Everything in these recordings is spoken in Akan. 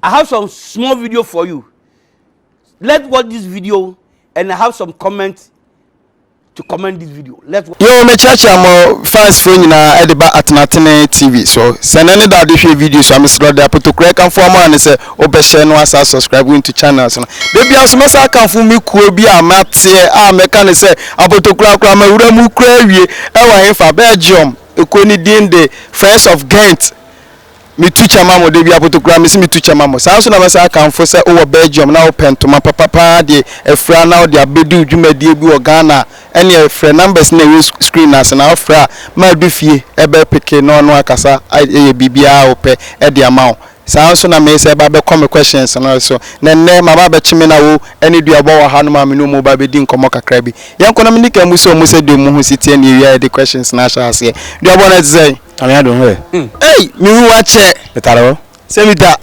I have some small video for you. Let's watch this video and I have some comments to comment this video. Let's watch. Yo, me church amo fans fo nyina e de ba atenatene TV so. Se na ne da de hwe video so amesro de apotokura kan fo amo ane se obehye no asa subscribe into channel so. De bia so mesa kan fo me kuo bi a mate a me kan se apotokura kura ma wura mu kura wie e wa hefa Belgium. Ekoni din de Friends of Ghent. Metu kyɛ ma mo, da bi akoto koraa mese metu kyɛ ma mo. Saa ara nso na mɛsan akamfo sɛ wowɔ Belgium na wopɛ ntoma papa pa ara deɛ afira na wode abɛdu dwumadie bi wɔ Ghana a, ɛnneɛ frɛ numbers no a ɛwɔ screen no ase na wofrɛ a madu fie bɛ peke na ɔno akasa ayɛ biribiara a wopɛ de ama wo. Saa ara nso na meresa ɛba abɛkɔ me questions no so na ɛnnɛ maba abɛkye me na wo ne Dua bɔ wɔ hanom a me ne wɔn reba abɛdi nkɔmmɔ kakra bi. Yɛnkɔ na menni kan mmisa wɔn sɛdeɛ wɔn ho si teɛ na yɛwie a yɛde questions no ahyɛ aseɛ. Dua bɔ no te sɛn? Nyame adom hɛ. Ei me hu wakyɛ. Metare hɔ sɛ me da.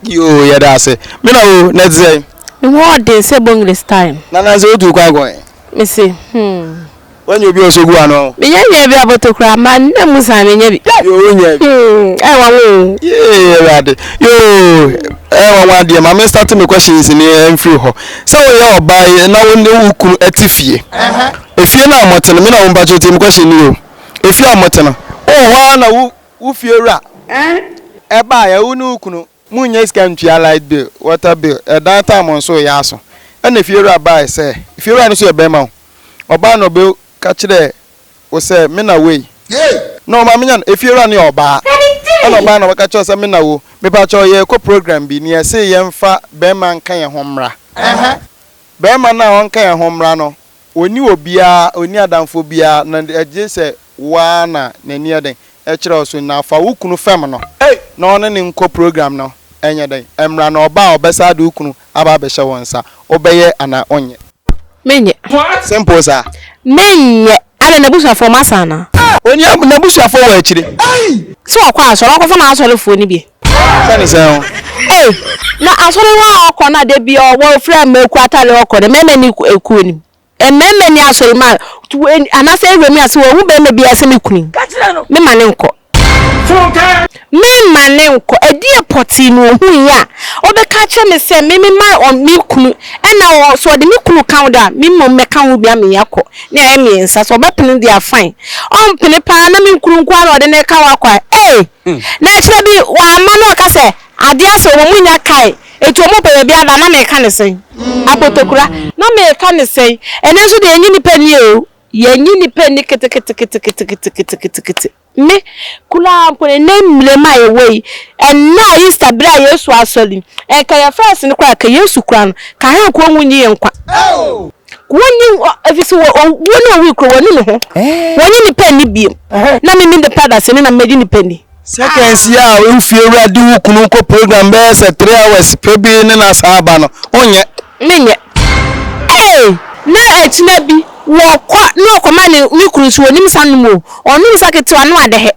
Yoo yɛ da ase. Me na oo na ɛte sɛ. Me ho ɔden sɛ bongles time. Na na sɛ o tu kwan kɔ he. Me se hmm. Wanya obi a ɔsɔ gu ano. Me nya nya bi aboto koraa ma nna mu san me nya bi. Yoo wo nya bi. Hmm ɛyɛ wanwa oo. Yee awurade yoo ɛyɛ wanwa deɛ ma me start me questions ni ɛnfiri hɔ sɛ wo yɛ ɔbaa na wo ne wo kunu ɛte fie. Ɛfie na a mɔte no me na wo mpakyɛ tie me question ni o. Efie a mote no, wowɔ hɔ ara na wo wo fiewura bae a wo ne wo kunu monnya sika ntua light bill, water bill, ɛdan tire mo nso reyɛ aso ɛna fiewura bae sɛ fiewura no nso yɛ barima o, ɔbae na ɔbɛka kyerɛɛ wo sɛ me na wei na ɔma menya no, efiewura no yɛ ɔbaa ɛna ɔbae na ɔbɛka kyerɛɛ wo sɛ me na wo, mepakyɛw yɛrekɔ program bi na yɛse yɛmfa barima nka yɛn ho mmra, barima no a ɔnka yɛn ho mmra no Ɔnni obiara, ɔnni adamfoɔ biara, na ɛgye sɛ wo ara na n'ani yɛ dɛn? Ɛkyerɛ wo so. Na fa wo kunu fɛm no na ɔne no nkɔ program no nyɛ dɛn? Mmra na ɔba a ɔbɛsa de wo kunu aba abɛhyɛ wo nsa. Wobɛyɛ anaa wonyɛ? Menyɛ. Simple saa. Menyɛ. Adɛn, n'abusuafoɔ masa anaa? Ɔnni, n'abusuafoɔ wɔ akyire. Sɛ ɔkɔ asɔre, ɔnkɔfa n'asɔrefoɔ no bi. Sɛ ne sɛn o. Ei na asɔre hɔ a ɔkɔ no a da biara ɔwɔ ofura mmaku atare ɔkɔ no mmarima ni kuo no mu mmarima ni asɔre mu a anaasɛ area mu a sɛ wahu barima biara sɛ me kunu me ma ne nkɔ me ma ne nkɔ ɛdeɛ pɔtee na ɔhu yi a ɔbɛka akyerɛ me sɛ me me ma me kunu ɛna ɔ so ɔde me kunu ka ho da me mmom mɛka ho bia me akɔ ne ayɛ mmiɛnsa sɛ ɔbɛpene deɛ afan ɔmpene paa na me nkunu nko ara ɔde ne ka wakɔ a ee. Na akyire bi w'ama no ɔka sɛ adeɛ asa ɔmo ɔmo nya kae eti ɔmo pɛ baabi ada na meka ne sɛn? Apotokura na meka ne sɛn? Ɛnɛ nso deɛ yɛnye nipa nni oo yɛnye nipa nni keteketeketeketeketekete me koraa mpo no ɛnɛ mmire mu a yɛwɔ yi ɛnɛ a Easter bere a Yesu asɔre yi nka yɛfrɛ ase no koraa ka Yesu kura no ka hɛn koraa ɔnwo nyi yɛn nkwa. Wɔnni hɔ, ɛfiri sɛ wɔ, owuo ne owuo kuro, wɔnni ne ho. Wɔnnye nnipa nni bio. Na me mini paradise no, na mɛgye nnipa nni. Seconds yi a wo fiewura de wo kunu kɔ program bɛyɛ sɛ three hours pɛ bi ne no asan aba no, wonyɛ? Menyɛ. Ee! Na akyina bi, wɔkɔ na wɔkɔma ne, me kunu nso, ɔnnim nsa nom o. Ɔnom nsa ketewa no ade he,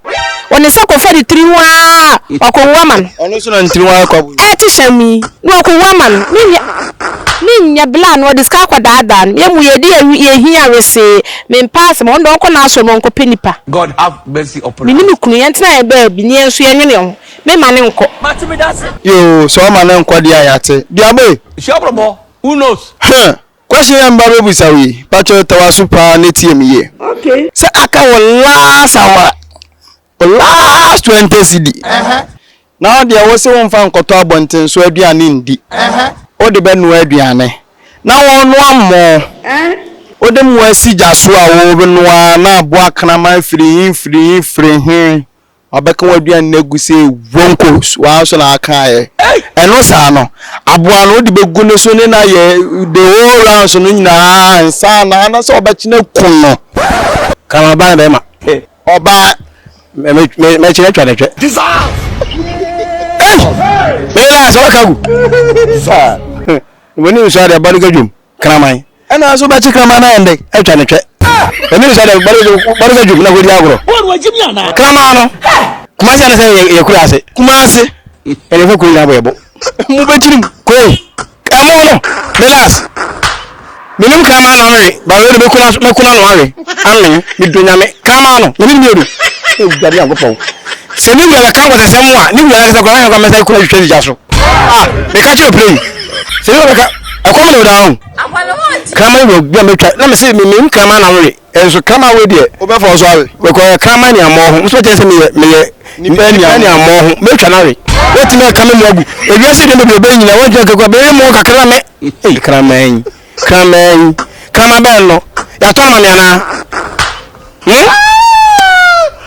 ɔde ne nsa kɔfa ne tiri ho aa ɔkɔwu ama no. Ɔno nso na ne tiri ho ayɛ kwaboo. Ɛɛte hyɛmm yi, na ɔkɔwu ama no. Ne nyɛ ne nyɛ bere a na ɔde sika akɔdaadaa no. Yɛ mu yɛ de yɛ yɛ hia wesee. Me mpɛ asɛm, ɔno deɛ ɔnkɔ n'asɔre mu ɔnkɔpɛ nnipa. God have mercy upon us. Me ne me kunu, yɛntena yɛn baabi na yɛn nso yɛnwene yɛn ho. Me mma no nkɔ. Mate me dase. Yoo, sɛ ɔma no nkɔ deɛ a yɛate. Duaboe! Hyia brɔbɔ, who knows? Huh! Question a meba bɛbisa wo yi, patwɛ ta w'aso paa na tie me yie. Okay. Sɛ aka wo last hour, wo last twenty cedi, na wo deɛ wo se wo nfa nkɔtɔ abɔnten so aduane ndi, wo de bɛ noa aduane, na wo noa mmoo, wo de mmoo asi gya so a wo noa na aboa kraman firi he firi he firi he, Wabɛka w'aduane no agu sɛ wonko so, wo ara nso na woaka ayɛ. Ɛno saa no, aboa no wode bɛgu ne so ne no ayɛ the whole rounds no nyinaa ansa na anaasɛ wɔbɛkyene aku no. Ka ma ɔbaa no bɛrima. Ɔbaa, Mɛkyene atwa no twɛ. Ei! Meyere a, sɛ woaka agu. Sir, W'ani nsɔ a deɛ bɔ no ka dwom. kraman. Ɛna nso bɛkye kraman no ayɛ ndɛ atwa no twɛ. Ɛnuru saa dɛ bɔde sɛ dwom na kɔdi agorɔ. Kraman no, Kumasi anasɛ ɛyɛ Kuraase? Kumasi. Ɛna ɛfa kuro nyinaa bɔ yɛ bo. Mo bɛkyiri mu. Koi, ɛmo no, relax. Menim kraman no ano we, ba wei de mɛku n'ano awe. Amen, medɔ Nyame. Kraman no, Nyame nim yɛ du. Awurade Nyankopɔn. Sɛ ne wura bɛka nkɔsɛsɛm a, ne wura ankasa koraa, ɔhwɛ kwan mɛsan kura twitwa sika so. Ah, meka kyerɛ wo pira yi. Sɛ ne wura bɛka. ɛkɔm na ɔda ho kraman wɔ bi a mɛtwa na mese memem kraman na wore ɛnso kraman wɔ deɛ wobɛfa so awe wɔkɔyɛ kraman ne ammɔ ho nso kyɛ sɛ meyɛ meyɛ nipa ne ammɔ ho mɛtwa no awe wɔtumi aka me mu agu ewiase deɛ bɛbi ɔbɛyi nyina wɔntwa kakra bɛyɛ mu kakra me kraman kraman kraman bɛn no yɛatɔ no ma me anaa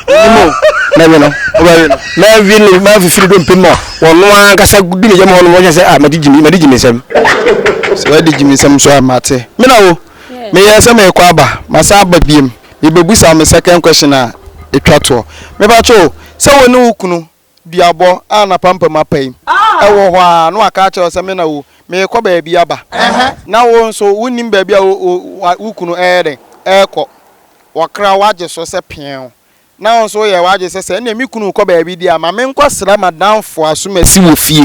Nimo mɛwe no ɔbɛwe no mɛwe no mɛfifiri do mpem a wɔn ankasa du ne yam hɔ no wɔhyɛ sɛ a ah, mɛde gyimi mɛde gyimi nsɛm sɛ wɔde gyimi nsɛm nso a mate me na wo meyɛ sɛ mekɔ aba masan aba biem mebɛbusa me second question a ɛtwa toɔ mebatwo sɛ wo ne wo kunu duabɔ a n'apampam apae wɔ hɔ ara na waka akyerɛ wo sɛ, Me na o, merekɔ baabi aba, na wo nso wonnim baabi a wo kunu reyɛ dɛn? Rekɔ. Wɔkra wo agye so sɛ peew, na wo nso woyɛ w'adwene sɛ, Sɛ ɛnneɛ me kunu rekɔ baabi deɛ a, ma menkɔsra m'adamfo Asumasi wɔ fie.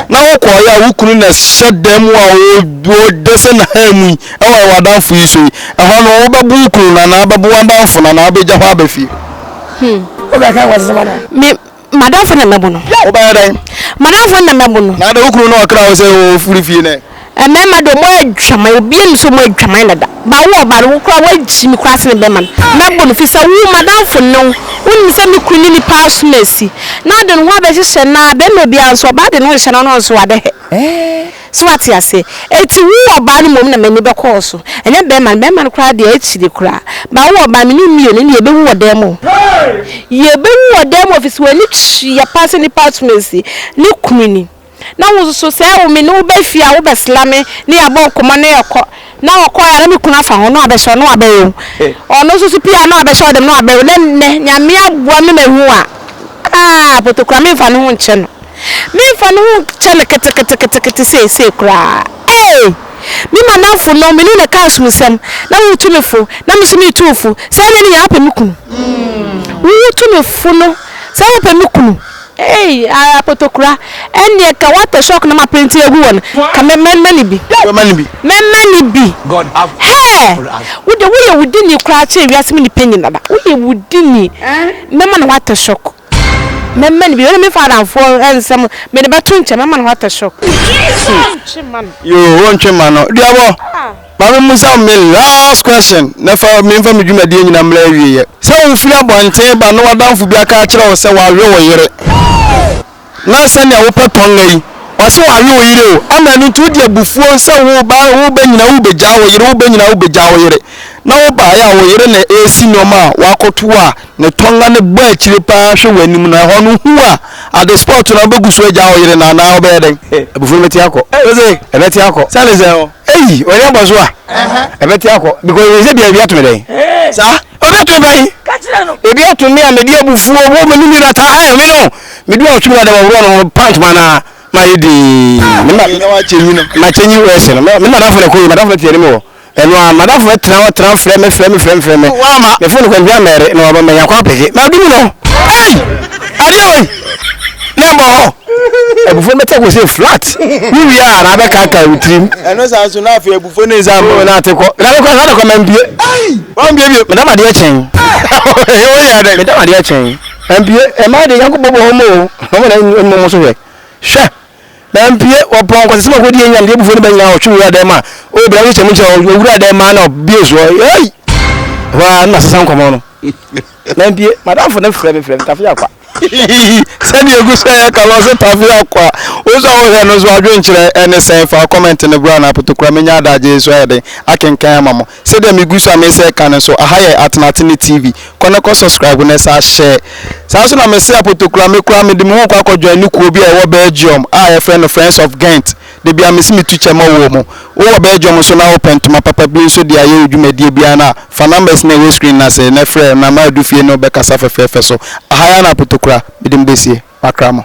Na wokɔeɛ a, wo kunu na ɛhyɛ dan mu a ɔreda sɛ n'ahan mu yi, ɛware w'adamfo yi so yi. Ɛhɔ no, wobɛbo wo kunu no anaa wobɛbo w'adamfo no anaa wobɛgya hɔ aba fie? Hmm. Wo bɛ kan wasi sama na. Mi madamfo na mɛbo no. Wo bɛ yɛ dɛn. Madamfo na mɛbo no. Na de wo kunu na ɔkra wo sɛ o firi fie nɛ. Mmarima de ɔmo adwaman obi ani so ɔmo adwaman dada ba wo ɔba no wo kora wagyi mi kora sene bɛma no mɛbo no fisɛ wo madamfo ne wo wonim sɛ me kunu ne nipa aso na asi na ɔde ne ho abɛhyehyɛ na bɛma obiara nso ɔba de ne ho hyehyɛ na ɔno nso wade hɛ. So wate aseɛ? Enti wo ɔbaa no mmom na m'ani bɛkɔɔ so, ɛnyɛ bɛrima no. Bɛrima no koraa deɛ, akyire koraa. But wo ɔbaa, me ne wo mmienu, ɛnneɛ yɛbɛwu wɔ dan mu. Yɛbɛwu wɔ dan mu, ɛfiri sɛ w'ani tua paa sɛ nnipa atom asi ne kunu ni. Na wo nso, sɛ me ne wo ba fie a, wobɛsla me, na yɛabɔ nkɔmmɔ, na yɛakɔ. Na ɔkɔe a na ne kunu afa ho, na ɔabɛhyɛ wo, na ɔabɛwe wo. Ɔno nso so pue a na ɔabɛhyɛ wo dɛm, na ɔabɛwe wo. Na nnɛ, Nyame aboa me mahu a, ah, Potokura, memfa ne ho nkyɛ no. Memfa ne ho nkyɛ no keteketekete seesei koraa. Ee! Me madamfo no, me ne no ka som nsɛm, na wo tu me fo, na me nso metu wo fo. Sɛ ɛnyɛ ne nyinaa, wopɛ me kunu. Wo tu me fo no, sɛ wopɛ me kunu. Eii ara kotokura ɛndeɛ ka water shock na ma printe agu wɔn ka mɛ mɛ mɛ ne bi. Mɛ mɛ ne bi. Mɛ mɛ ne bi. Hɛɛ wo deɛ wo yɛ wo dini koraa kyɛn wiase mu nipa nyinara wo yɛ wo dini mɛ ma no water shock mɛ mɛ ne bi wei me fa adamfoɔ nsɛm me de bɛ to nkyɛn mɛ ma no water shock. Ntwe ma no. Yoo wo ntwe ma no deɛ bɔ. Ah. Ma me mmusa wo me last question na fa menfa me dwumadie nyina mmra awieɛ. Sɛ wo firi abɔnten ba na w'adamfo bi aka akyerɛ wo sɛ w'awe wo yere na sɛnea wo pɛ tɔnga yi w'ase w'awe wo yere o ama ɛno nti wo de abufuo sɛ wo ba wo bɛ nyina wo bɛ gyaa wo yere wo bɛ nyina wo bɛ gyaa wo yere na wo baeɛ a wo yere na ɛresi nnoɔma a w'akɔto a ne tɔnga no bɔ akyire paa hwɛ w'anim no ɛhɔ no hu a at the spot no wobɛgu so agyaa wo yere no anaa wobɛyɛ dɛn? Abufuo no bɛte akɔ. Ɛbɛte akɔ. Sɛne sɛ. Eyi ɔyɛ abɔ so a ɛbɛte akɔ because ɛyɛ sɛ bia ebi ato me dɛn saa obi ato me ban ebi ato me a mede abufuo wo me ne nira taa ayɛ me no mede wa ɔtumi ada wɔworɔ no ho pant ma na ma yɛ dii ma kyɛnyi wɔ ɛsɛ no me madafo na ɛkɔ yi madafo na tiɛ ne me wɔ ɛno a madafo na tena hɔ tena frɛ me frɛ me frɛ me frɛ me me fo no kwantua mɛre na wɔbɛmɛnya kɔ apɛgye ma dumi no ei adeɛ wei na ɛmɔ hɔ abufo no bɛtɛ ko sɛ flat wowie a na abɛkaka wo tirim ɛno saa nso na afei abufo ne nsa mmɔ na ate kɔ na bɛkɔ saa dɔkɔ mampie wambiebie medam adeɛ kyɛn woyɛ dɛ medam adeɛ kyɛn mampie ɛma de nyanko bɔbɔ hɔ mu o ɔmo na ɛmu mo so hwɛ hwɛ mampie wɔpɔn kɔsɛ sɛ makɔdi ɛnyam deɛ abufo no bɛnyina ɔtwe wura dɛ ma o bra wo kyɛm kyɛ ɔwura dɛ ma na ɔbie soɔ ei hɔ a na sesa nkɔmɔ no Mampie, m'adamfo no frɛ me frɛ me Tafe Akwa. Hihihi, sɛdeɛ egu so ɛyɛ kama ɔse Tafe Akwa. Wo nso a wo hwɛ no nso adwenkyerɛ ɛne sɛn fa comment no bra na apotokura menya adagye yi nso ayɛ den akenkan ama mo. Sɛdeɛ me gu so a mese ɛka no nso aha yɛ Atenatene TV, kɔ na kɔ subscribe na san share. Saa nso na mese apotokura me koraa mede me ho rekɔ akɔ joine kuo bi a ɛwɔ Belgium a yɛfrɛ no Friends of Ghent. Da biara mese metu kyɛ ma woɔ mo. Wo wɔ Belgium nso na wopɛ ntoma papa bi nso de ayɛ wo dwumadie biara no a, fa numbers no a ɛwɔ screen no ase na frɛ na ma adu fie ne wo bɛkasa fɛfɛɛfɛ so. Aha yɛ Anaa Potokora. Mede mo bɛsie. Makra mo.